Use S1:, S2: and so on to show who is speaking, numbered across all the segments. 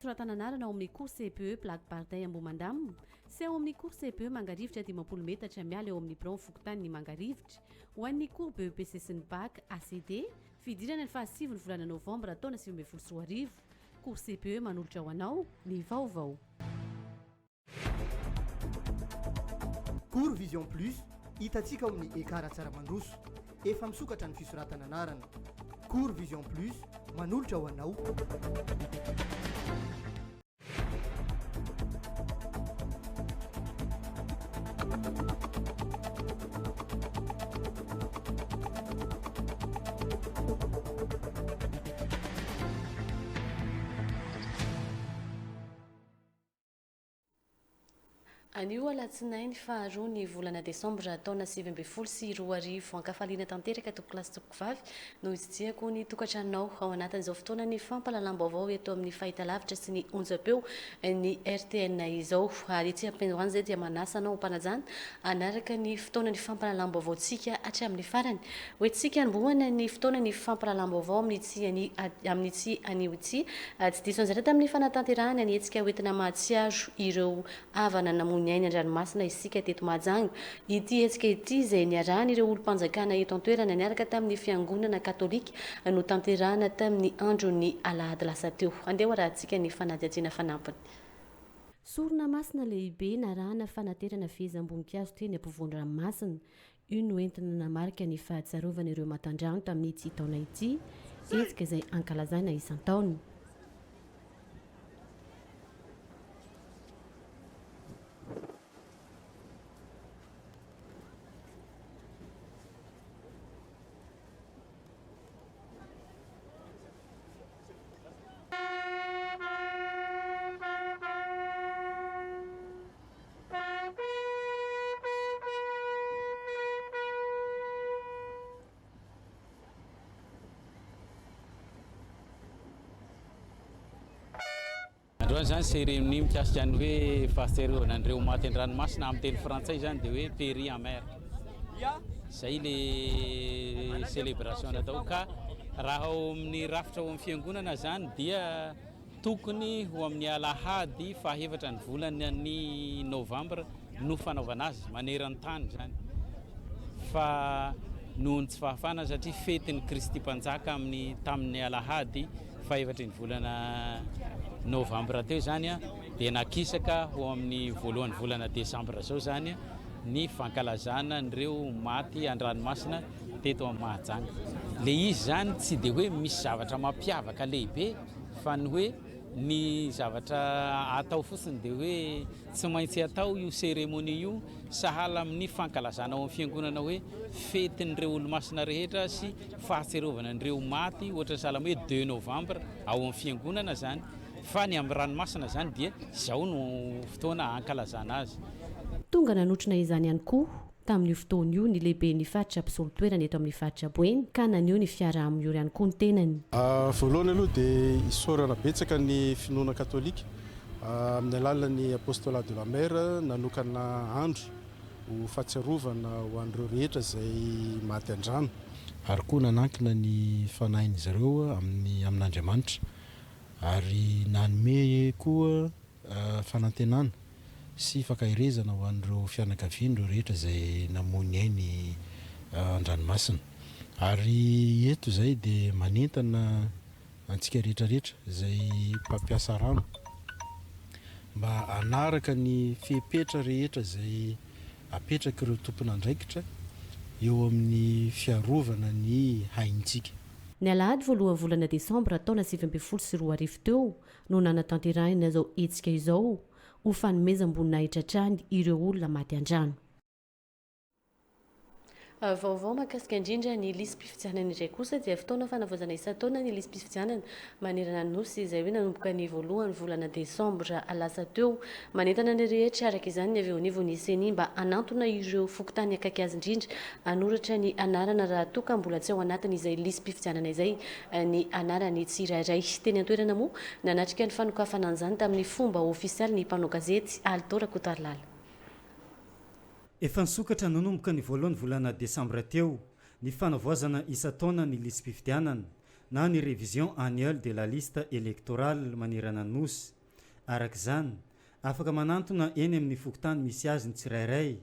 S1: Toratana anarana ao amin'ny cours CPE Plaque Bardin Ambohimandamina sy ao amin'ny cours CPE Mangarivotra dimampolo metatra miala eo amin'ny biraon'ny fokontanin'i Mangarivotra ho an'ny cours BEPC sy ny Bac, ACD, fidirana ny fahasivy ny volana novambra taona sivy ambin'ny folo sy roa arivo. Cours CPE manolotra ho anao ny vaovao.
S2: Cours Vision Plus hitantsika ao amin'ny Ekara Tsaramandroso. Efa misokatra ny fisoratana anarana. Cours Vision Plus manolotra ho anao.
S1: Anio Alatsinainy faha roa ny volana desambra taona sivy ambin'ny folo sy roa arivo. Ankafaliana tanteraka tompokolahy sy tompokovavy no hitsidiako ny tokantranonao ao anatin'izao fotoanan'ny fampahalalam-baovao eto amin'ny fahitalavitra sy ny onjam-peo ny rtn izao. Ary ity ampindroany izay dia manasa anao ho mpanajana hanaraka ny fotoanan'ny fampahalalam-baovaontsika hatramin'ny farany Ho entintsika hanombohana ny fotoana ny fampirahalahambaovao amin'itsy an'i amin'itsy anio itsy. Tsy diso anjara tamin'ny fanatanterahana ny hetsika hoentina mahatsiaro ireo havana namoy ny ainy an-dranomasina isika teto Mahajanga. Ity hetsika ity izay niarahan'ireo olom-panjakana eto an-toerana niaraka tamin'ny fiangonana katolika no tanterahana tamin'ny andron'ny alahady lasa teo. Andeha hoarahantsika ny fanadihadiana fanampiny. Sorona masina lehibe narahana fanaterana fehezam-boninkazo teny ampovoan-dranomasina. Io no entina namarika ny fahatsiarovana ireo matandrano tamin'ity taona ity, hetsika izay ankalazaina isan-taona.
S3: Androany izany cérémonie mikasika ny hoe fahatsiarovana an'ireo maty an-dranomasina amin'ny teny frantsay izany dia hoe péri en mer. Izay ilay célébration natao ka raha ao amin'ny rafitra ao amin'ny fiangonana izany dia Tokony ho amin'ny alahady fahaefatra ny volany novambra no fanaovana azy maneran-tany izany fa noho ny tsy fahafahana satria fetin'ny Kristy Mpanjaka amin'ny tamin'ny alahady fahefatry ny volana novambra teo izany dia nakisaka ho amin'ny voalohany volana desambra izao izany ny fankalazana an'ireo maty an-dranomasina teto amin'ny Mahajanga. Le izy izany tsy dia hoe misy zavatra mampiavaka lehibe Fa ny hoe ny zavatra atao fotsiny dia hoe tsy maintsy atao io cérémonie io sahala amin'ny fankalazana ao amin'ny fiangonana hoe fetin'ireo olomasina rehetra sy fahatsiarovana an'ireo maty ohatra ny sahala hoe deux novembre ao amin'ny fiangonana izany fa ny amin'ny ranomasina izany dia izao no fotoana hankalazana azy. Tonga nanotrona
S1: izany ihany koa Tamin'io fotoana io, ny lehiben'ny faritra mpisolo toerana eto amin'ny faritra Boeny ka naneho ny fiaraha-miory ihany koa ny tenany. Voalohany aloha
S4: dia isaorana betsaka ny finoana katolika amin'ny alalan'ny Apostolat de la Mer nanokana andro ho fahatsiarovana ho an'ireo rehetra izay maty an-drano, ary koa nanankina ny fanahin'izy ireo amin'ny amin'Andriamanitra ary nanome koa fanantenana sy fankaherezana ho an'ireo fianakaviany ireo rehetra izay namoy ny ainy an-dranomasina. Ary eto izay dia manentana antsika rehetra rehetra izay mpampiasa rano mba hanaraka ny fepetra rehetra izay apetrak'ireo tompon'andraikitra eo amin'ny fiarovana ny haintsika. Ny alahady
S1: voalohan'ny volana desambra taona sivy ambin'ny folo sy roa arivo teo, no nanatanterahina izao hetsika izao ho fanomezam-boninahitra hatrany ireo olona maty an-drano. Vaovao mahakasika indrindra ny lisi-pifidianana indray kosa dia fotoana fanavaozana isan-taona ny lisi-pifidianana manerana ny Nosy izay hoe nanomboka ny voalohan'ny volana desambra lasa teo. Manentana ny rehetra araka izany ny avy eo anivon'ny Ceni mba hanantona ireo fokontany akaiky azy indrindra hanoratra ny anarana raha toa ka mbola tsy ao anatin'izay lisi-pifidianana izay ny anaran'ny tsirairay. Teny an-toerana moa, nanatrika ny fanokafana an'izany tamin'ny fomba ofisialy ny mpanao gazety, Alto Rakotarilala.
S5: Efa nisokatra nanomboka ny voalohan'ny volana desambra teo ny fanavaozana isan-taona ny lisi-pifidianana na ny révision annuelle de la liste électorale manerana ny Nosy. Araka izany, afaka manantona eny amin'ny fokontany misy azy ny tsirairay,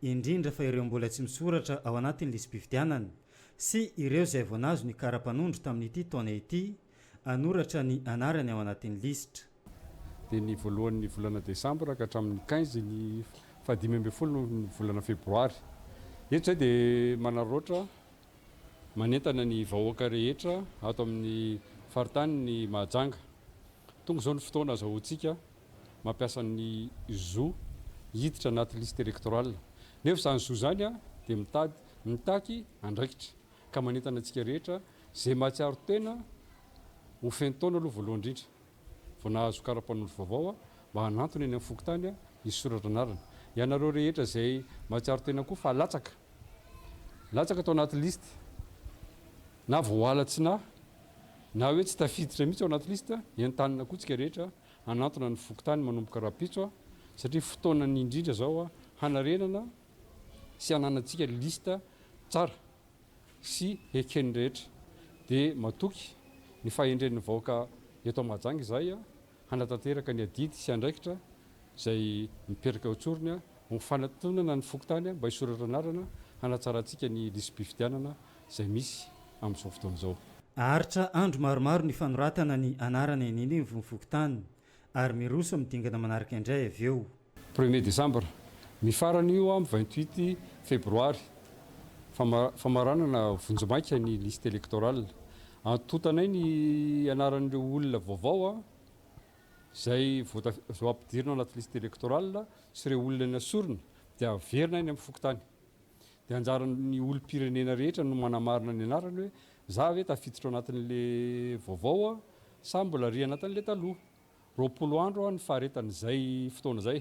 S5: indrindra fa ireo mbola tsy misoratra ao anatin'ny lisi-pifidianana sy ireo izay vao nahazo ny kara-panondro tamin'ity taona ity, hanoratra ny anarany ao anatin'ny lisitra. dia ny
S6: voalohan'ny volana desambra ka hatramin'ny quinze ny fahadimy ambin'ny folo ny volana febroary. Eto izay dia manararaotra manentana ny vahoaka rehetra ato amin'ny faritany ny Mahajanga. Tonga izao ny fotoana azahoantsika mampiasa ny zo hiditra anaty liste électorale. Nefa izany zo izany dia mitady mitaky andraikitra ka manentana antsika rehetra izay mahatsiaro tena ho feno taona aloha voalohany indrindra. vao nahazo kara-panondro vaovao aho mba hanantona eny amin'ny fokontany ny soratra anarana. Ianareo rehetra izay mahatsiaro tena koa fa latsaka, latsaka tao anaty liste na voaalatsina na hoe tsy tafiditra mihitsy ao anaty liste, entanina koa tsika rehetra hanantona ny fokontany manomboka rahampitso satria fotoanany indrindra izao hanarenana sy hananantsika liste tsara. sy heken'ny rehetra dia matoky ny fahendren'ny vahoaka eto Mahajanga izahay hanatanteraka ny adidy sy andraikitra izay mipetraka eo an-tsorony ho fanatonana ny fokontany mba hisoratra anarana hanatsarantsika ny lisi-pifidianana izay misy amin'izao fotoana izao. Haharitra andro
S5: maromaro ny fanoratana ny anarana eny anivon'ny fokontany. Ary miroso amin'ny dingana manaraka indray avy eo. Premier desambra.
S6: Ny farany io amin'ny vingt huit febroary. Famaranana vonjimaika ny liste électorale. Antontanay ny anaran'ireo olona vaovao izay voaampidirina anaty liste électorale sy ireo olona nesorina dia averina any amin'ny fokontany. Dia anjaran'ny olom-pirenena rehetra no manamarina ny anarany hoe za ve tafiditra ao anatin'le vaovao aho sa mbola ry anatin'le taloha. Roapolo andro aho ny faharetan'izay fotoana izay.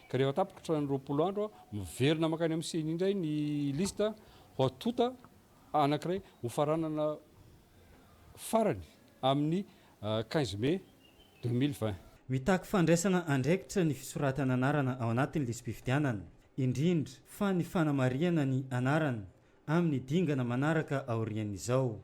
S6: Ka rehefa tapitra ny roapolo andro aho, miverina mankany amin'ny ceni indray ny liste ho atonta anankiray hofaranana farany amin'ny quinze mai deux mille vingt. Mitaky
S5: fandraisana andraikitra ny fisoratana anarana ao anatin'ny lisi-pifidianana, indrindra fa ny fanamarihana ny anarana amin'ny dingana manaraka aorian'izao.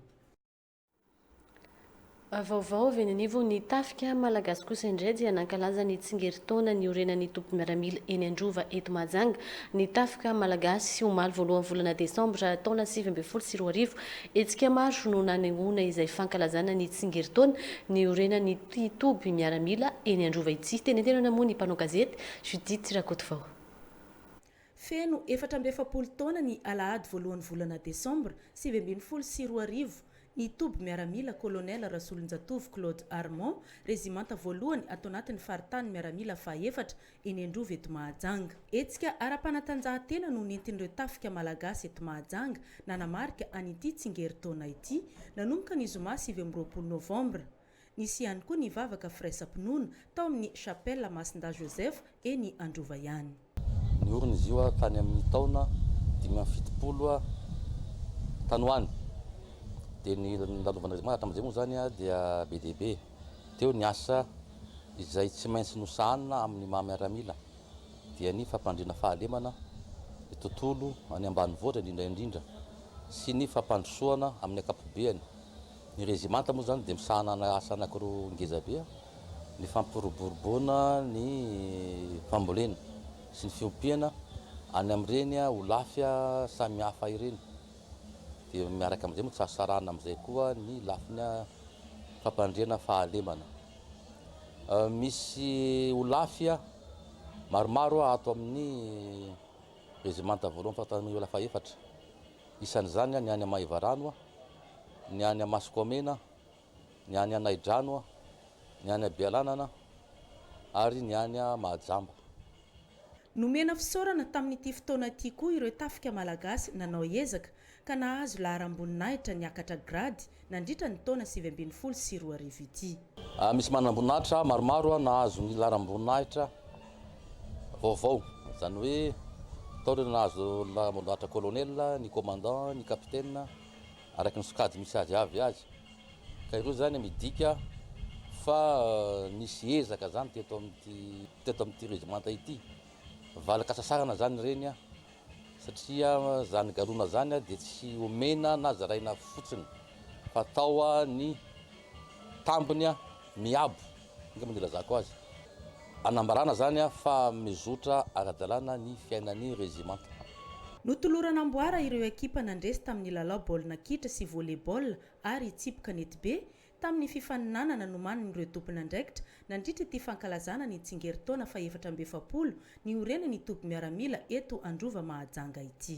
S1: Vaovao avy eny anivon' ny Tafika malagasy kosa indray dia nankalaza ny tsingerintaona niorenan' ny tobim-miaramila eny Androva eto Mahajanga ny Tafika malagasy, omaly voalohan'ny volana desambra taona sivy ambin'ny folo sy roa arivo. Hetsika maro no nanehoana izay fankalazana ny tsingerin-taona niorenan'ity toby miaramila eny Androva ity. Teny an-tenana moa ny mpanao gazety Judith Rakotovao.
S7: Feno efatra amby efapolo taona ny alahady voalohan'ny volana desambra sivy ambin'ny folo sy roa arivo ny toby miaramila Kolonely Rasolonjatovo Claude Armand, rezimanta voalohany ato anatin'ny faritanin'ny miaramila faha efatra eny Androva eto Mahajanga. Hetsika ara-panatanjahantena no nentin'ireo Tafika Malagasy eto Mahajanga nanamarika an'ity tsingerin-taona ity, nanomboka ny zoma sivy amby roapolo novambra. Nisy ihany koa ny vavaka firaisam-pinoana tao amin'ny Chapelle Masindahy Joseph eny Androva ihany. Niorina izy
S8: io tany amin'ny taona dimy amby fitopolo tany ho any, dia ny nandalovan'ireo zanak'andriamanitra tamin'izay moa izany dia be dia be. Teo ny asa izay tsy maintsy nosahanina amin'ny maha miaramila dia ny fampandriana fahalemana ny tontolo any ambanivohitra indrindra indrindra sy ny fampandrosoana amin'ny ankapobeany. Ny rezimanta moa izany dia misahana asa anankiroa ngezabe, ny fampiroboroboana ny fambolena sy ny fiompiana any amin'ireny holafy samihafa ireny dia miaraka amin'izay moa tsy azo sarahana amin'izay koa ny lafiny fampandriana fahalemana. Misy Olafy maromaro ato amin'ny Rezimanta voalohany Fahatany fahefatra. Isan'izany ny any Maevarano, ny any Masokomena, ny any Anaidrano, ny any Bealanana ary ny any Mahajamba.
S7: Nomena fisaorana tamin'ity fotoana ity koa ireo tafika malagasy nanao ezaka ka nahazo laharam-boninahitra niakatra grady nandritra ny taona sivy ambin'ny folo sy roa arivo ity. Misy manamboninahitra
S8: maromaro nahazo ny laharam-boninahitra vaovao, izany hoe tao ireo nahazo laharam-boninahitra colonel, ny commandant, ny capitaine, araka ny sokajy misy azy avy azy. Ka ireo izany midika fa nisy ezaka izany teto amin'ity. teto amin'ity régimenta ity, valin-kasasarana zany ireny an, satria zany galona zany dia tsy omena na zaraina fotsiny fa atao ny tambiny miabo, angamba ny ilazako azy, anambarana zany fa mizotra ara-dalàna ny fiainan'ny régimenta. Notolorana
S7: amboara ireo ekipa nandresy tamin'ny lalao baolina kitra sy volley-ball ary hitsipy kanetibe, Tamin'ny fifaninanana nomanin'ireo tompon'andraikitra nandritra ity fankalazana ny tsingerintaona fahefatra amby efapolo niorenan'ny toby miaramila eto Androva Mahajanga ity.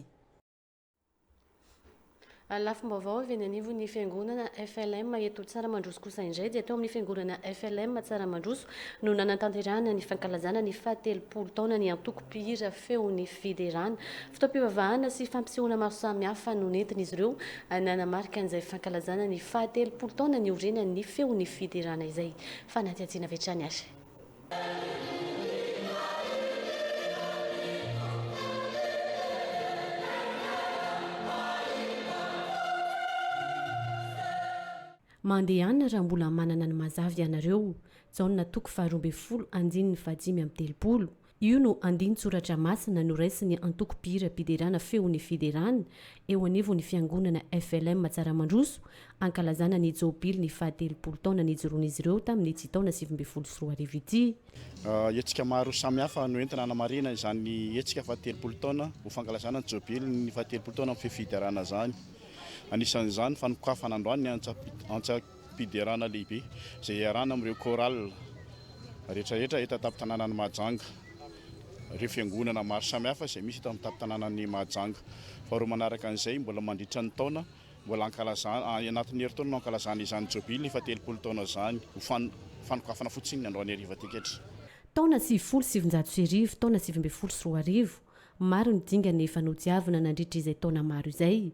S1: Lafim-baovao avy eny anivon'ny fiangonana FLM eto Tsaramandroso kosa indray dia tao amin'ny fiangonana FLM Tsaramandroso no nanatanterahana ny fankalazana ny fahatelopolo taonan'ny antoko mpihira feo ny fiderana, fotoam-pivavahana sy fampisehoana maro samihafa no nentin'izy ireo nanamarika an'izay fankalazana ny fahatelopolo taona niorenan'ny feo ny fiderana izay. Fanadihadiana avy hatrany ary. Mandehana raha mbola manana ny mazava ianareo. Jaona toko faharoa ambin'ny folo andininy fahadimy amby telopolo. Io no andinin-tsoratra masina noraisin'ny antoko mpihiram-piderana Feon'ny Fiderana eo anivon'ny fiangonana FLM Tsaramandroso ankalazana ny Jobiliny fahatelopolo taona nijoroan'izy ireo tamin'ity taona sivy ambin'ny folo sy roa arivo ity. Hetsika
S9: maro samihafa no entina hanamarihana izany hetsika fahatelopolo taona ho fankalazana ny Jobiliny fahatelopolo taona amin'ny fifiderana izany. Anisan'izany ny fanokafana androany ny antsa fiderana lehibe izay iarahana amin'ireo chorale rehetra rehetra eto an-tampon-tanànan'i Mahajanga, ireo fiangonana maro samihafa izay misy eto amin'ny tampon-tanànan'i Mahajanga. Faharoa manaraka an'izay, mbola mandritra ny taona, mbola ankalazana, any anatin'ny herintaona no ankalazana izany Jobily fahatelopolo taona izany, ho fanokafana fotsiny ny androany hariva ity ankehitriny. Taona sivifolo
S1: sy sivinjato sy arivo, taona sivy ambin'ny folo sy roa arivo, maro ny dingana efa nodiavina nandritra izay taona maro izay,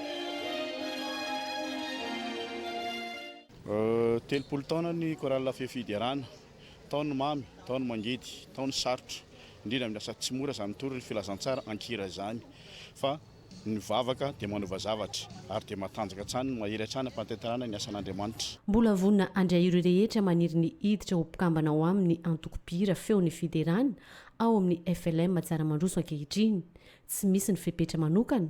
S9: Telopolo taona ny Chorale Fefy Fiderana. Tao ny mamy, tao ny mangidy, tao ny sarotra. Indrindra amin'ny lasa tsy mora izany tory ny filazantsara an-kira izany. Fa ny vavaka dia manova zavatra, ary dia matanjaka hatrany ny mahery hatrany ampantentanana ny asan'Andriamanitra. Mbola vonona handray
S1: ireo rehetra maniry ny hiditra ho mpikambana ao amin'ny antoko mpihira Feo ny Fiderana ao amin'ny FLM Tsaramandroso ankehitriny. Tsy misy ny fepetra manokana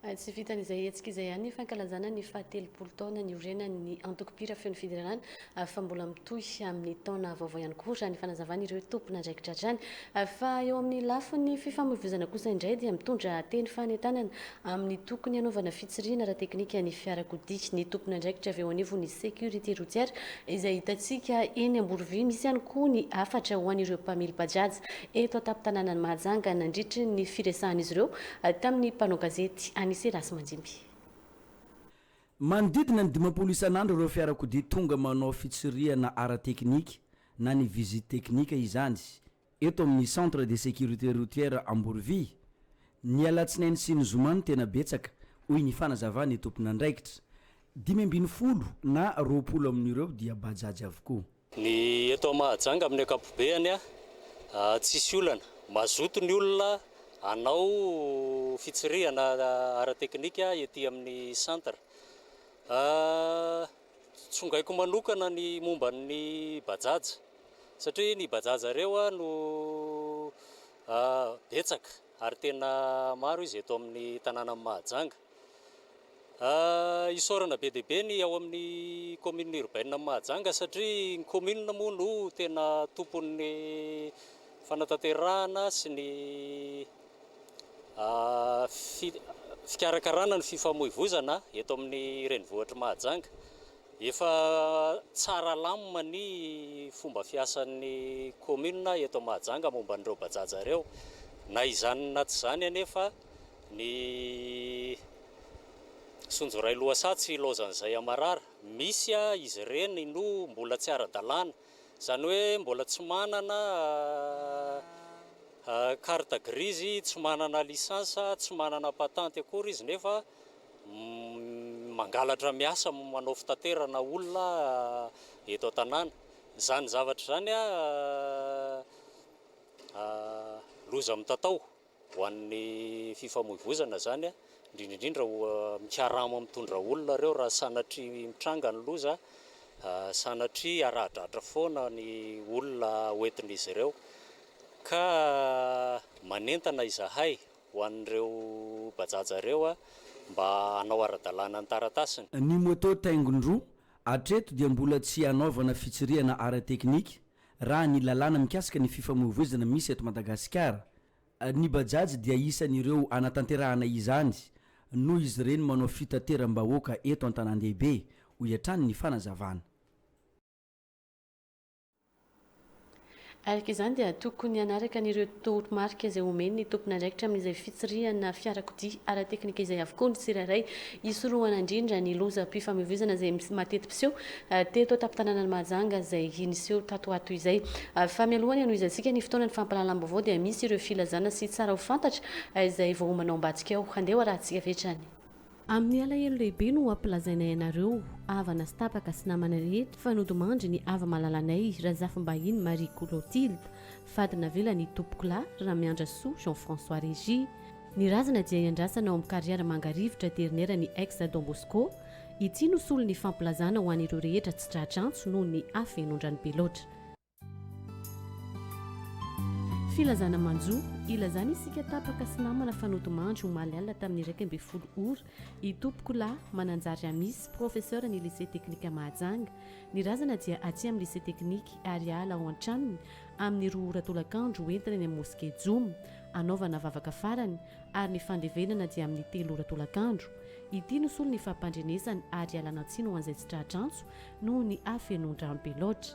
S1: Tsy vitan'izay hetsika izay ihany ny fankalazana ny fahatelopolo taona niorenan'ny antoko mpihira Feon'ny Fiderana fa mbola mitohy amin'ny taona vaovao ihany koa, raha ny fanazavan'ireo tompon'andraikitra hatrany. Fa eo amin'ny lafiny fifamoivoizana kosa indray dia mitondra teny fanentanana amin'ny tokony hanaovana fitsirihina ara-teknika ny fiarakodia ny tompon'andraikitra avy eo anivon'ny Sécurité Routière izay hitantsika eny Amborovy. Misy ihany koa ny hafatra ho an'ireo mpamily Bajaj eto an-tampon-tanànan'i Mahajanga nandritry ny firesahan'izy ireo tamin'ny mpanao gazety Anicet Rasimandimby. Manodidina
S10: ny dimampolo isan'andro ireo fiarakodia tonga manao fitsirihana ara-teknika na ny visite technique izany eto amin'ny Centre de sécurité routière Amborovia. Ny alatsinainy sy ny zoma no tena betsaka, hoy ny fanazavan'ny tompon'andraikitra. Dimy ambin'ny folo na roapolo amin'ireo dia bajaj avokoa. Ny
S11: eto Mahajanga amin'ny ankapobeany tsisy olana. Mazoto ny olona hanao fitsirihana ara-teknika ety amin'ny centre. Tsongaiko manokana ny momba ny Bajaj satria ny Bajaj ireo no betsaka. Ary tena maro izy eto amin'ny tanànan'i Mahajanga. Isaorana be dia be ny ao amin'ny kaominina urbaine-n'i Mahajanga satria ny kaominina moa no tena tompon'ny fanatanterahana sy ny fikarakarana ny fifamoivozana eto amin'ny renivohitr'i Mahajanga. Efa tsara lamina ny fomba fiasan'ny kaominina eto Mahajanga momba an'ireo Bajaj ireo. Na izany na tsy izany anefa, ny Sonjoray Lohasaha tsy ilaozan'izay amarara. Misy izy ireny no mbola tsy ara-dalàna, izany hoe mbola tsy manana carte grise, tsy manana licence, tsy manana patente akory izy nefa mangalatra miasa manao fitaterana olona eto an-tanàna. Izany zavatra izany loza mitatao ho an'ny fifamoivoizana izany, indrindra indrindra mikarama mitondra olona ireo raha sanatria mitranga ny loza, sanatria aradratra foana ny olona hoentin'izy ireo ka manentana izahay ho an'ireo Bajaj ireo mba hanao ara-dalàna ny taratasiny. Ny moto
S10: taingin-droa, hatreto dia mbola tsy hanaovana fitsirihana ara-teknika raha ny lalàna mikasika ny fifamoivoizana misy eto Madagasikara. Ny Bajaj dia isan'ireo hanatanterahana izany noho izy ireny manao fitateram-bahoaka eto an-tanàn-dehibe, hoy hatrany ny fanazavana.
S1: Araka izany dia tokony hanaraka an'ireo toromarika izay omen'ny tompon'andraikitra amin'izay fitsirihana fiarakodia ara-teknika izay avokoa ny tsirairay, hisorohana indrindra ny lozam-pifamoivoizana izay mateti-piseho teto an-tampon-tanànan'i Mahajanga izay niseho tato ho ato izay. Fa mialoha ny hanohizantsika ny fotoanan'ny fampahalalam-baovao dia misy ireo filazana sy tsara ho fantatra izay vao homana ao ambadika ao. Andeha ho arahantsika avy hatrany. Amin'ny alahelo lehibe no ampilazainay anareo, havana sy tapaka sy namana rehetra, fa nodimandry ny hava-malalanay, Razafimbahiny Marie Colotilde, fady navelan' i Tompokolahy Ramiandrasoa Jean François Régis. Ny razana dia iandrasana ao amin'ny Carrière Mangarivotra dernière ny ex Don Bosco. Ity no solon'ny fampilazana ho an'ireo rehetra tsy tra-drantso noho ny hafenoan-drano be loatra. Filazana manjo, ilazana isika tapaka sy namana fa nodimandry omaly alina tamin'ny iraika ambin'ny folo ora, i Tompokolahy Mananjary Amisy, professeur ny Lycée Teknika Mahajanga. Ny razana dia aty amin'ny Lycée Teknika ary hiala ao an-tranony amin'ny roa ora tolakandro ho entina eny amin'ny Mosquée Joma hanaovana vavaka farany ary ny fandevenana dia amin'ny telo ora tolakandro. Ity no solony fampandrenesany ary hialana tsiny ho an'izay tsy tratr'antso noho ny hafenoan-drano be loatra.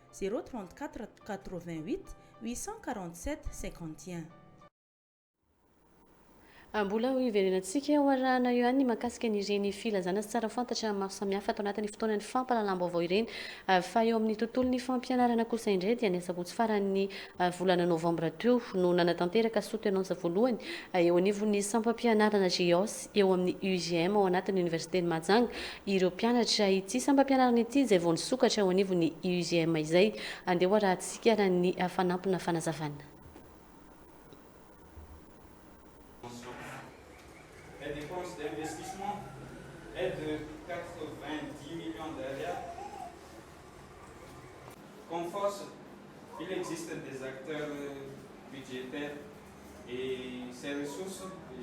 S7: zéro trente quatre quatre vingt huit huit cent quarante sept cinquante
S1: et un. Mbola ho iverenantsika eo arahana eo ihany ny mahakasika an'ireny filazana sy tsara fantatra maro samihafa ato anatin'ny fotoanan'ny fampahalalam-baovao ireny fa eo amin'ny tontolon'ny fampianarana kosa indray dia ny asabotsy faran'ny volana novambra teo no nanatanteraka sotenansa voalohany eo anivon'ny sampam-pianarana GEOS eo amin'ny UJM ao anatin'ny Oniversiten'i Mahajanga ireo mpianatra ity sampam-pianarana ity izay vao nisokatra eo anivon'ny UJM izay. Andeha ho arahantsika ny fanampina fanazavana.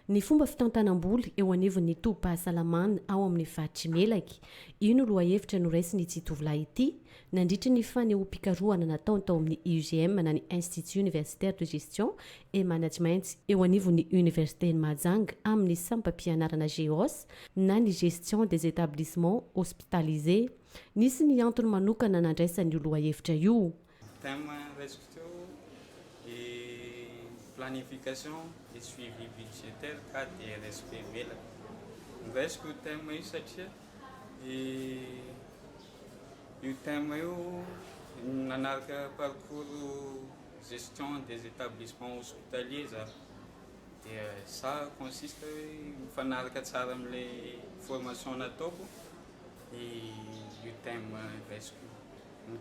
S12: Ny fomba
S1: fitantanam-bola eo anivon'ny tobim-pahasalamana ao amin'ny faritr'i Melaky. Io no lohahevitra noraisin'ity tovolahy ity, nandritra ny fanehoam-pikarohana nataony tao amin'ny IUGM na ny Institut Universitaire de Gestion et Management eo anivon'ny Oniversiten'i Mahajanga amin'ny sampam-pianarana GEHOS na ny Gestion des Etablissements Hospitalisés. Nisy ny antony manokana nandraisany io lohahevitra io. Thème raisiko teo dia
S12: planification et suivi budgétaire cas de respect velany. Noraisiko io thème io satria io thème io nanaraka parcours gestion des établissements hospitaliers za dia za consiste hoe mifanaraka tsara amin'ilay formation nataoko io thème raisiko io.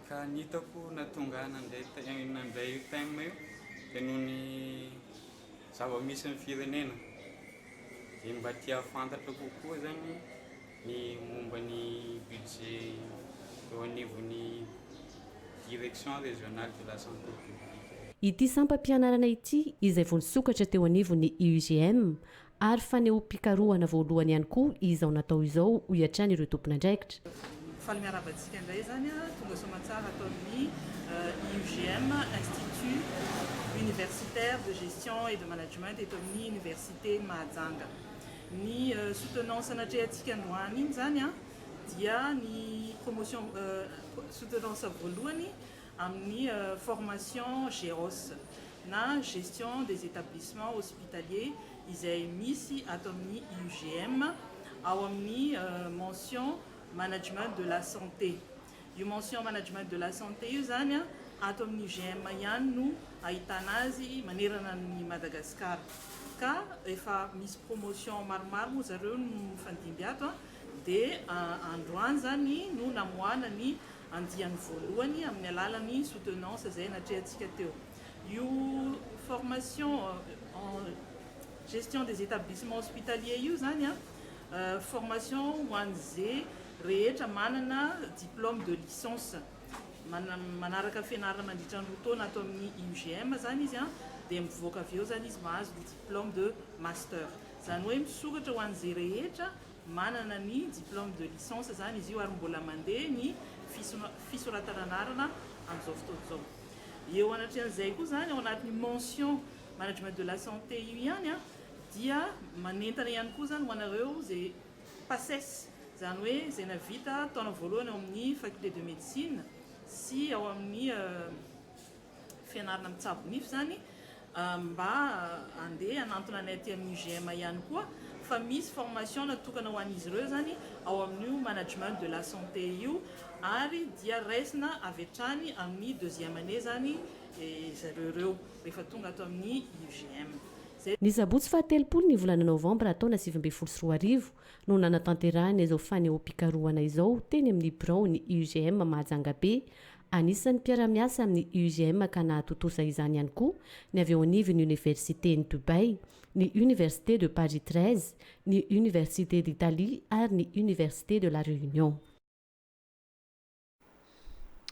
S12: Ka ny hitako nahatonga ahy nandeha nandray io thème io dia noho ny zava-misy ny firenena dia mba te hahafantatra kokoa zany ny momba ny budget eo anivon'ny direction régionale de la santé publique. Ity sampam-pianarana
S1: ity, izay voasokatra teo anivon'ny IUGM, Ary fanehoam-pikarohana voalohany ihany koa izao natao izao, hoy hatrany ireo tompon'andraikitra. Faly miarahaba
S13: antsika indray izany tonga soamantsara ato amin'ny IUGM, Institut Universitaire de Gestion et de Management, eto amin'ny Oniversite Mahajanga. Ny soutenance anatrehantsika androany izany dia ny promotion, soutenance voalohany amin'ny formation GEHOS na Gestion des Etablissements Hospitaliers izay misy ato amin'ny IUGM ao amin'ny mention Management de la Santé. Io mention Management de la Santé io izany ato amin'ny UGM ihany no ahitana azy manerana an'i Madagasikara. Ka efa misy promotion maromaro moa zareo no mifandimby ato dia androany izany no namoahana ny andiany voalohany amin'ny alalan'ny soutenance izay natrehantsika teo. Io formation en gestion des établissements hospitaliers io izany an, formation ho an'izay rehetra manana diplôme de licence, manaraka fianarana mandritra ny roa taona ato amin'ny IUGM izany izy an, dia mivoaka avy eo izany izy mahazo ny diplôme de master. Izany hoe misoratra ho an'izay rehetra Manana ny diplôme de licence izany izy io ary mbola mandeha ny fisoratana anarana amin'izao fotoana izao. Eo anatrehan'izay koa izany, ao anatin'io mention management de la santé io ihany dia manentana ihany koa izany ho anareo izay Paces, izany hoe izay navita taona voalohany ao amin'ny faculté de médecine sy ao amin'ny fianarana mitsabo nify zany mba andeha hanantona anay aty amin'ny UGM ihany koa fa misy formation natokana ho an'izy ireo zany ao amin'io management de la santé io ary dia raisina avy hatrany amin'ny deuxième année zany zareo ireo rehefa tonga ato amin'ny UGM. Izay. Ny sabotsy
S1: fahatelopolo ny volana novambra taona sivy ambin'ny folo sy roa arivo no nanatanterahina izao fanehoam-pikarohana izao teny amin'ny biraon'ny UGM Mahajangabe Anisan'ny mpiara-miasa amin'ny UGM ka nahatontosa izany ihany koa ny avy eo anivon'ny Oniversiten'i Dubaï, ny Université de Paris treize, ny Université d'Italie ary ny Université de la Réunion.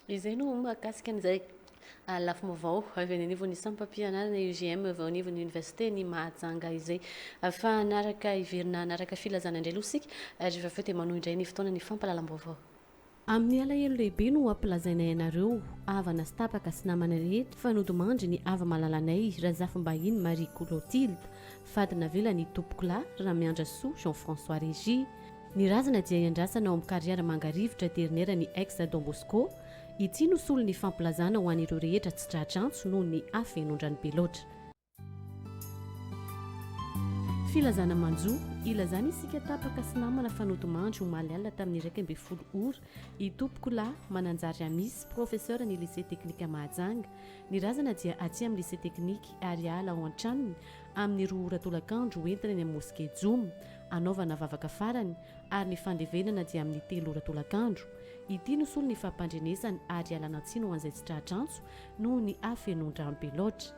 S1: Izay no mahakasika an'izay lafim-baovao avy any anivon'ny sampam-pianarana UGM avy ao anivon'ny Oniversiten'i Mahajanga izay. Fa hanaraka hiverina hanaraka filazana indray aloha isika ary rehefa avy eo dia manohy indray ny fotoana ny fampahalalam-baovao. Amin'ny alahelo lehibe no ampilazainay anareo, havana sy tapaka sy namana rehetra, fa nodimandry ny hava-malalanay Razafimbahiny Marie Clotilde, fady navelan'ny itompokolahy Ramiandrasoa Jean François Régis. Ny razana dia iandrasana ao amin'ny Carrière Mangarivotra aterineran'ny Ex Don Bosco. Ity no solon'ny fampilazana ho an'ireo rehetra tsy tratra antso noho ny hafenoan-drano be loatra. Filazana manjo, ilazana isika tapaka sy namana fa nodimandry omaly alina tamin'ny iraika ambin'ny folo ora, Itompokolahy Mananjary Amisy, professeur ny Lycée Teknika Mahajanga. Ny razana dia aty amin'ny Lycée Teknika ary hiala ao an-tranony amin'ny roa ora tolakandro ho entina eny amin'ny Mosquée Joma hanaovana vavaka farany ary ny fandevenana dia amin'ny telo ora tolakandro. Ity no solony fampandrenesany ary hialana tsiny ho an'izay tsy tratra antso noho ny hafenoan-drano be loatra.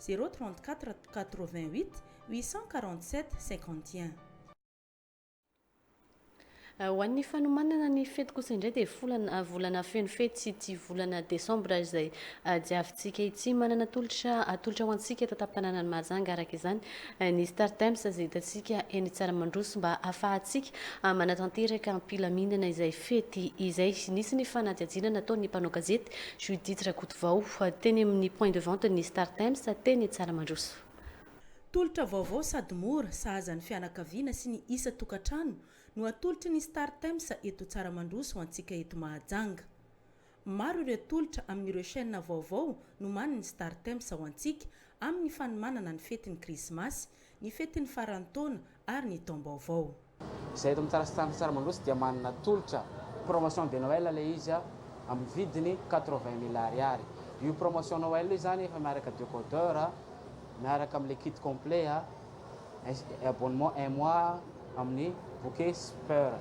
S7: zéro trente quatre quatre vingt huit huit cent quarante sept cinquante
S1: et un. Ho an'ny fanomanana ny fety kosa indray dia folana volana feno fety sy ity volana desambra izay diavintsika ity. Manana tolotra atolotra ho antsika eto an-tampon-tanànan'i Mahajanga araka izany ny Star Times izay hitantsika eny Tsaramandroso mba hahafahantsika manatanteraka am-pilaminana izay Fety izay, nisy ny fanadihadiana nataon'ny mpanao gazety, Judith Rakotovao, teny amin'ny point de vente ny Star Times, teny Tsaramandroso. Tolotra
S7: vaovao sady mora, sahaza ny fianakaviana sy ny isan-tokantrano no atolotry ny Star Times eto Tsaramandroso ho antsika eto Mahajanga. Maro ireo tolotra amin'ireo chaînes vaovao nomanin'ny Startimes ao antsika amin'ny fanomanana ny fetin'ny Krismasy, ny fetin'ny faran'ny taona ary ny taom-baovao. Izay eto amin'ny
S14: Startimes Tsaramanosy dia manana tolotra promotion de Noël ilay izy amin'ny vidiny quatre-vingt mille Ariary. Io promotion Noël io izany efa miaraka decoder, miaraka amin'ilay kit complet. abonnement un mois amin'ny bouquets peur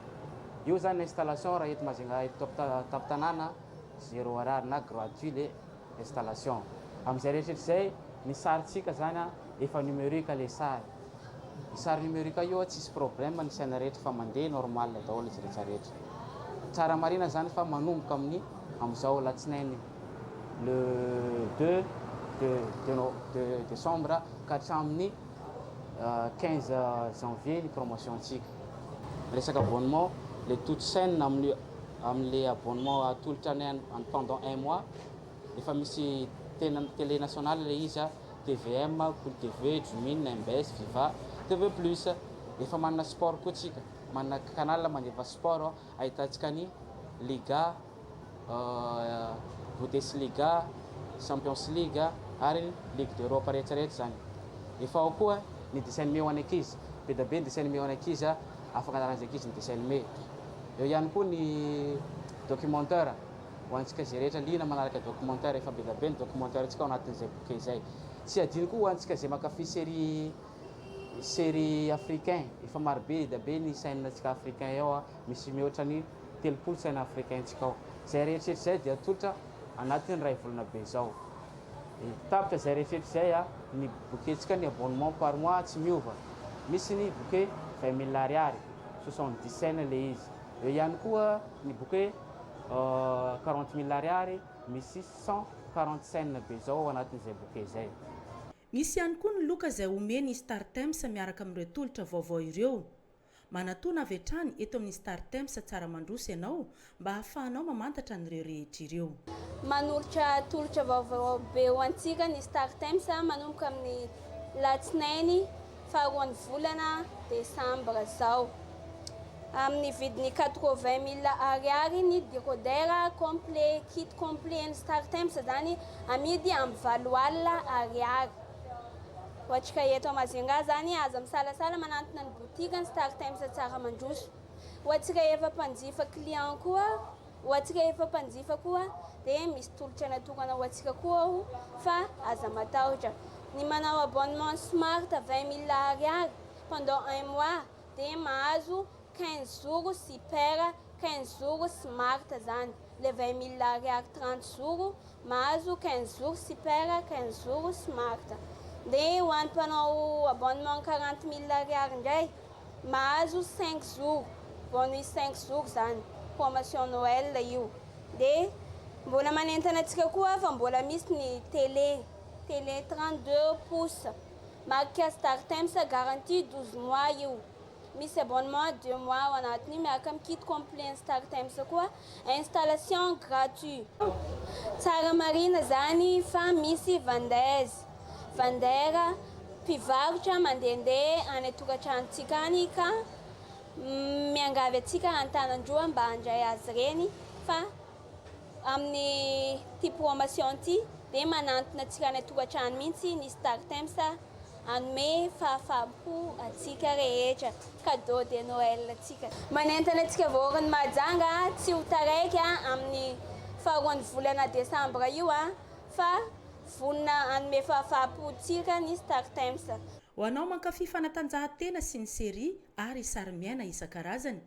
S14: io zany installation raha eto Majunga eto tampon-tanàna zéro ariary na gratuit le installation amin'izay rehetra rehetra izay ny sarintsika zany efa numerique le sary ny sary numerique io tsisy problème ny saina rehetra fa mandeha normal daholo izy rehetra rehetra tsara marihina zany fa manomboka amin'ny amin'izao alatsinainy le deux de de decembre ka hatramin'ny quinze janvier ny promotion antsika resaka abonnement le toute chaine amin'ny amin'le abonnement atolotra ny any pendant un mois efa misy tena télé nationale le izy tvm kolo tv jumine mbs viva tv plus efa manana sport koa tsika manana canal mandefa sport ahitantsika ny liga Bundesliga, Champions League ary Ligue d'Europe rehetra rehetra izany. Efa ao koa ny dessin animé ho an'ny ankizy. Be dia be ny dessin animé ho an'ny ankizy, afaka anaran'izay ankizy ny dessin animé. Eo ihany koa ny documentaire, ho antsika izay rehetra liana manaraka documentaire. Efa be dia be ny documentaire antsika ao anatin'izay boky izay. Tsy adino koa ho antsika izay mankafy série, série africain. Efa maro be dia be ny chaîne antsika africain ao, misy mihoatra ny. telopolo saina africain-tsika ao. Izay rehetra izay dia atolotra anatin'ny iray volana be izao. E. Tapitra izay rehetra izay a, ny bouquet-tsika ny abonnement par mois tsy miova. Misy ny bouquet vingt mille ariary, soixante dix saina ilay izy. Eo ihany koa ny bouquet quarante mille ariary, misy cent quarante saina be izao ao anatin'izay bouquet izay. Misy ihany
S7: koa ny loka izay omen'ny Startimes miaraka amin'ireo tolotra vaovao ireo. Manatòna avy hatrany eto amin'ny Startimes Tsaramandroso ianao mba hahafahanao mamantatra an'ireo rehetra ireo. Manolotra
S15: tolotra vaovao be ho antsika ny Startimes manomboka amin'ny latsinainy faharoan'ny volana desambra izao. Amin'ny vidiny quatre-vingt mille Ariary ny decoder complet, kit complet ny Startimes izany amidy amin'ny valo alina Ariary. Ohatrika eto Majunga zany aza misalasala manantona ny boutiques ny Star Times tsara mandroso. Ohatrika efa mpanjifa clients koa ohatrika efa mpanjifa koa dia misy tolotra natokana ho antsika koa ao fa aza matahotra. Ny manao abonnement smart vingt mille ariary pendant un mois dia mahazo quinze jours sy per quinze jours smart zany le vingt mille ariary trente jours mahazo quinze jours sy per quinze jours smart dia ho an'ny mpanao abonnement quarante mille ariary indray mahazo cinq jours bonus cinq jours zany promotion noel io dia mbola manentana antsika koa fa mbola misy ny tele tele trente deux pouces Marika Startimes garantie douze mois io. Misy abonnement deux mois ao anatin'io miaraka amin'ny kit complet ny Startimes koa. Installation gratuit. Tsara marina izany fa misy vendeuses, vendeurs, mpivarotra mandehandeha any an-tokantranontsika any ka miangavy antsika an-tanan-droa mba handray azy ireny fa Amin'ity promotion ity dia manantona antsika any an-tokantrano mihitsy ny Startimes hanome fahafaham-po antsika rehetra, cadeau de Noël antsika. Manentana antsika Vahoakan'i Mahajanga tsy ho taraiky amin'ny faharoan'ny volana desambra io fa vonona hanome fahafaham-po antsika ny Startimes. Ho anao mankafy
S7: fanatanjahantena sy ny serie ary sarimiaina isan-karazany,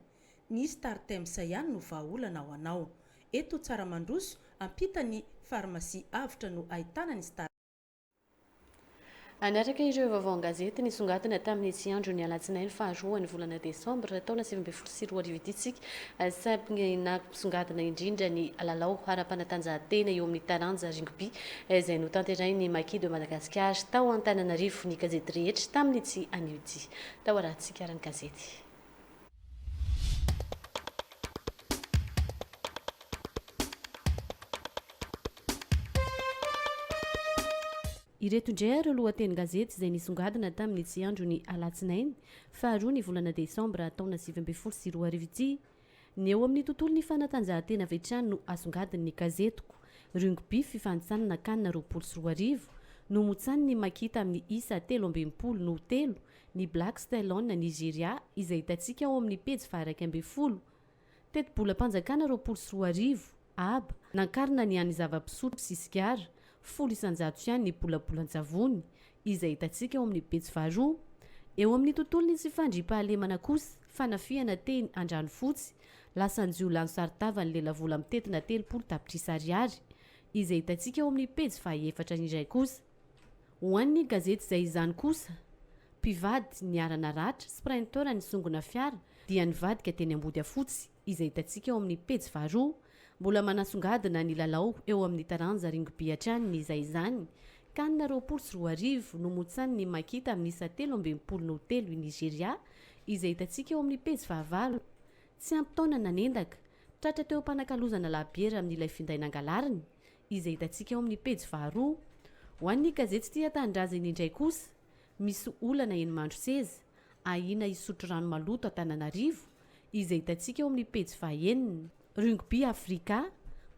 S7: Ny Startemps ihany no vahaolana ho anao. Eto Tsaramandroso, ampita ny Pharmacie avotra no ahitana ny Startemps.
S1: Hanaraka ireo vaovao an-gazety nisongadina tamin'ny ity andron'ny alatsinainy faharoan'ny volana desambra taona sivy ambin'ny folo sy roa arivo ity isika, saingy nampisongadina indrindra ny lalao ara-panatanjahantena eo amin'ny taranja Rugby izay notanterahin'ny Maquis de Madagascar tao Antananarivo. Ny gazety rehetra tamin'ity anio ity tao ara-tsikarany gazety. Ireto indray ary ireo lohatenin-gazety izay nisongadina tamin'ity andron'ny alatsinainy faharoa ny volana desambra taona sivy ambin'ny folo sy roa arivo ity. Ny eo amin'ny tontolon'ny fanatanjahantena avy hatrany no asongadin'ny Gazetiko, Rugby fifanintsanana can roapolo sy roa arivo, Nomotsanin'i Makita amin'ny isa telo amby enimpolo no telo, ny Black Stallion na Nigeria izay hitantsika ao amin'ny pejy faharaika ambin'ny folo. Tetibolam-panjakana roapolo sy roa arivo, ab, nankarina ny an'ny zava-pisotro sy sigara, folo isan-jato ihany ny bolabolan-tsavony, izay hitantsika ao amin'ny pejy faharoa. Eo amin'ny tontolon'ny tsy fandriampahalemana kosa, fanafihana teny Andranofotsy, lasan-jiolahy nisaron-tava ny lelavola mitentina telopolo tapitrisa ariary, izay hitantsika ao amin'ny pejy fahaefatra indray kosa. Ho an'ny gazety izay izany kosa, mpivady niharana ratra, sprinter nisongona fiara dia nivadika teny Ambodiafotsy, izay hitantsika ao amin'ny pejy faharoa, mbola manasongadina ny lalao eo amin'ny taranja ringby hatrany ny izay izany, Can roapolo sy roa arivo, nomotsan'ny Makita amin'ny isa telo ambin'ny folo noho telo i Nigeria, izay hitantsika eo amin'ny pejy fahavalo. Tsy ampy taona nanendaka, tratra teo am-panakalozana labiera amin'ilay finday nangalariny, izay hitantsika ao amin'ny pejy faharoa. Ho an'ny gazety Tia Tanindrazana indray kosa, misy olana eny Mandroseza, ahiana hisotro rano maloto Antananarivo, izay hitantsika ao amin'ny pejy fahaenina. Rugby Africa,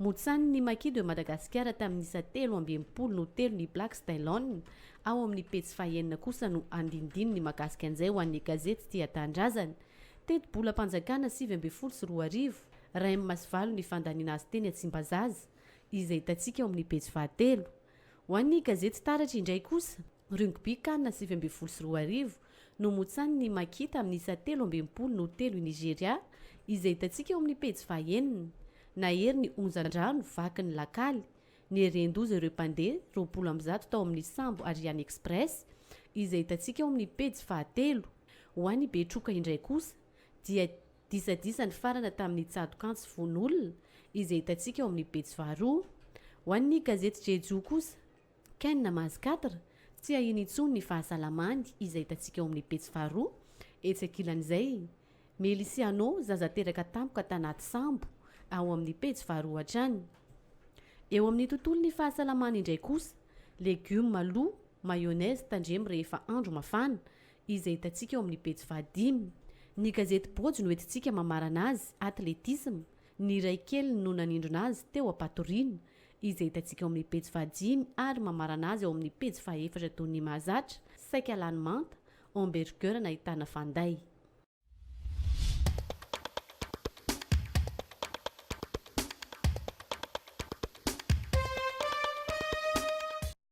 S1: motsanin' ny Maki de Madagasikara tamin'ny isa telo amby enimpolo no telo ny Blacks Tailon, ao amin'ny pejy fahaenina kosa no andinindininy mahakasika an'izay ho an'ny gazety Tia Tanindrazana. Tetibolam-panjakana sivy ambin'ny folo sy roa arivo, Ray amin' ny Masivalon' ny fandaniana azy teny Tsimbazaza. izay hitantsika ao amin'ny pejy fahatelo. Ho an'ny gazety Taratra indray kosa, Rugby Can sivy ambin'ny folo sy roa arivo, nomotsanin'i Makita amin'ny isa telo amby enimpolo no telo i Nigeria, izay hitantsika ao amin'ny pejy fahenina. Nahery ny onjan-drano vaky ny lakaly, nieren-doza ireo mpandeha roapolo amby zato tao amin'ny sambo Ariane Express, izay hitantsika ao amin'ny pejy fahatelo. Ho an'i Betroka indray kosa, dia Disadisa nifarana tamin'ny tsato-kantsy vono olona izay hitantsika ao amin'ny pejy faharoa. Ho an'ny gazety Jejoo kosa, Ken namazy quatre, tsy ahiany intsony ny fahasalamany izay hitantsika ao amin'ny pejy faharoa. Etsy ankilan'izay, Melisiano, zaza teraka tampoka tanaty sambo, ao amin'ny pejy faharoa hatrany. Eo amin'ny tontolon'ny fahasalamana indray kosa, Legioma lo, mayonnaise tandremo rehefa andro mafana, izay hitantsika eo amin'ny pejy fahadimy. Ny gazety Bôjo no entintsika mamarana azy, atletisma, ny iray keliny no nanindrona azy teo am-patoriana, izay hitantsika eo amin'ny pejy fahadimy ary mamarana azy ao amin'ny pejy fahaefatra toy ny mahazatra, saika lany manta, hamburger nahitana fanday.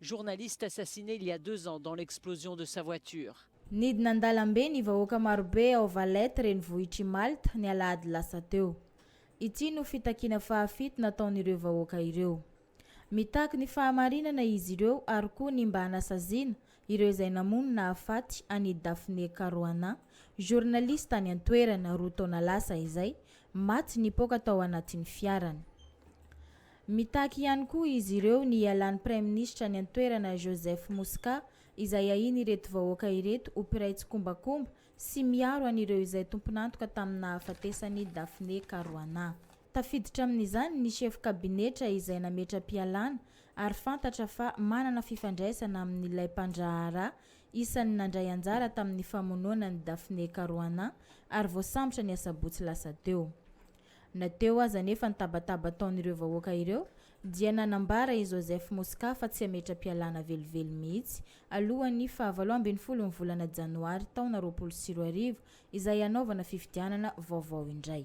S16: Journaliste assassiné il y a deux ans dans l'explosion de sa voiture. Nidina an-dalambe
S17: ny vahoaka marobe ao Valette renivohitr'i Malte ny alahady lasa teo. Ity no fitakiana fahafito nataon'ireo vahoaka ireo. Mitaky ny fahamarinana izy ireo ary koa ny mba hanasaziana ireo izay namono nahafaty an'i Daphne Caruana, journaliste tany an-toerana roa taona lasa izay, maty nipoaka tao anatin'ny fiarany. Mitaky ihany koa izy ireo ny hialan'ny Praiminisitra any an-toerana Joseph Muscat izay ahiany ireto vahoaka ireto ho mpiray tsikombakomba sy miaro an'ireo izay tompon'antoka tamin'ny nahafatesan'i Daphne Caruana. Tafiditra amin'izany ny sefo kabinetra izay nametra-pialana ary fantatra fa manana fifandraisana amin'ilay mpandraharaha isan'ny nandray anjara tamin'ny famonoana an'i Daphne Caruana ary voasambotra ny asabotsy lasa teo. Na teo aza anefa ny tabataba ataon'ireo vahoaka ireo dia nanambara i Joseph Muscat fa tsy hametra-pialana velively mihitsy alohan'ny faha valo ambin'ny folon'ny volana janoary taona roapolo sy roa arivo izay hanaovana fifidianana vaovao indray.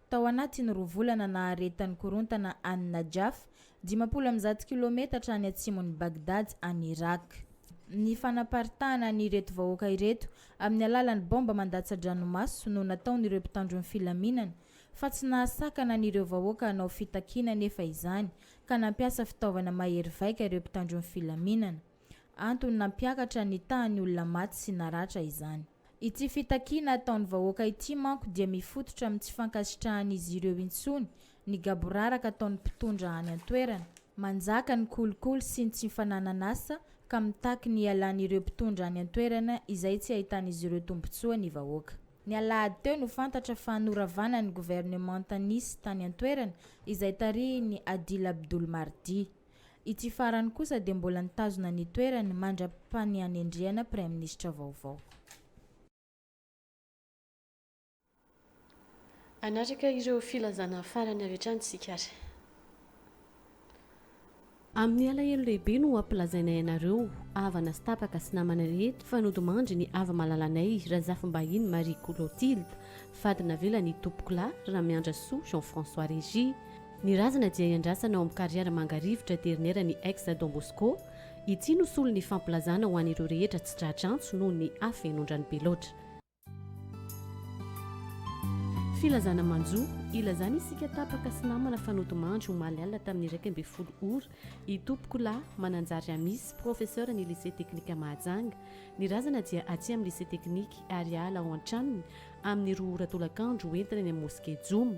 S17: Tao anatin'ny roa volana naharetan'ny korontana an'i Najaf, dimampolo amby zato kilaometatra any atsimon'i Baghdad any Irak, ny fanaparitahana an'ireto vahoaka ireto amin'ny alalan'ny baomba mandatsa-dranomaso no nataon'ireo mpitandro ny filaminana fa tsy nahasakana an'ireo vahoaka hanao fitakiana anefa izany ka nampiasa fitaovana mahery vaika ireo mpitandro ny filaminana. Antony nampiakatra ny tahan'ny olona maty sy naratra izany. Ity fitakiana ataon'ny vahoaka ity manko dia mifototra amin'ny tsy fankasitrahan'izy ireo intsony ny gaboraraka ataon'ny mpitondra any an-toerana. Manjaka ny kolikoly sy ny tsy fananan'asa ka mitaky ny hialan'ireo mpitondra any an-toerana izay tsy ahitan'izy ireo tombontsoa ny vahoaka. Ny alahady teo no fantatra fa noravana ny governemanta nisy tany an-toerana izay tarihin'i Adil Abdul Mahdi. Ity farany kosa dia mbola nitazona ny toerany mandra-panihanendrehana praiminisitra vaovao.
S1: Hanaraka ireo filazana farany avy hatrany isika ary. Amin'ny alahelo lehibe no ampilazainay anareo, havana sy tapaka sy namana rehetra, fa nodimandry ny avi-malalanay, Razafimbahiny Marie Colotilde, fady navelan'Itompokolahy Ramiandrasoa Jean François Régis, Ny razana dia iandrasana ao amin'ny Carrière Mangarivotra Dernière ny Ex Don Bosco. Ity no solon'ny fampilazana ho an'ireo rehetra tsy tratra antso noho ny hafenon-drano be loatra. Filazana manjo, Ilazana isika tapaka sy namana fa nodimandry omaly alina tamin'ny iraika ambin'ny folo ora, i Tompokolahy Mananjary Amisy, professeur ny Lycée Teknika Mahajanga. Ny razana dia aty amin'ny Lycée Teknika ary hiala ao an-tranony amin'ny roa ora tolakandro ho entina eny amin'ny Mosquée Jomo.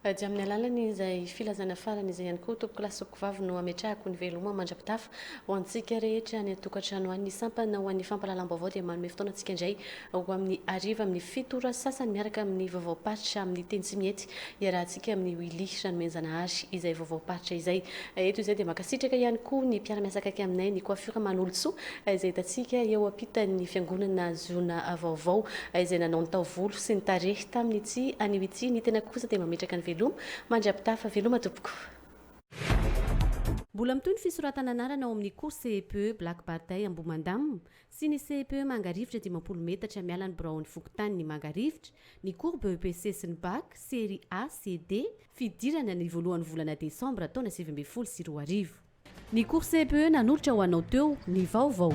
S1: Dia amin'ny alalan'izay filazana farany izay ihany koa tompoko lahy sy tompoko vavy no ametrahako ny veloma mandra-pitafa ho antsika rehetra any an-tokantrano any. Ny sampana ho an'ny fampahalalam-baovao dia manome fotoana antsika indray ho amin'ny hariva amin'ny fito ora sasany miaraka amin'ny vaovaom-paritra amin'ny teny tsy mihety iarahantsika amin'ny Willy Ranomenjanahary izay vaovaom-paritra izay. Eto izay dia mankasitraka ihany koa ny mpiara-miasa akaiky aminay ny Coiffure Manolotsoa izay hitantsika eo ampitan'ny fiangonana Ziona Vaovao izay nanao ny taovolo sy ny tarehy tamin ity anio ity ny tenako kosa dia mametraka ny veloma mandrapitafa veloma tompoko. Mbola mitohy ny fisoratana anarana ao amin'ny cours CEPE Black Barday Ambohimandamina sy ny CEPE Mangarivotra dimampolo metatra miala ny biraon'ny fokontaniny Mangarivotra ny cours BEPC sy ny Bac, Serie A sy D, fidirana ny voalohan'ny volana desambra taona sivy ambin'ny folo sy roa arivo. Ny cours CEPE nanolotra ho anao teo ny vaovao.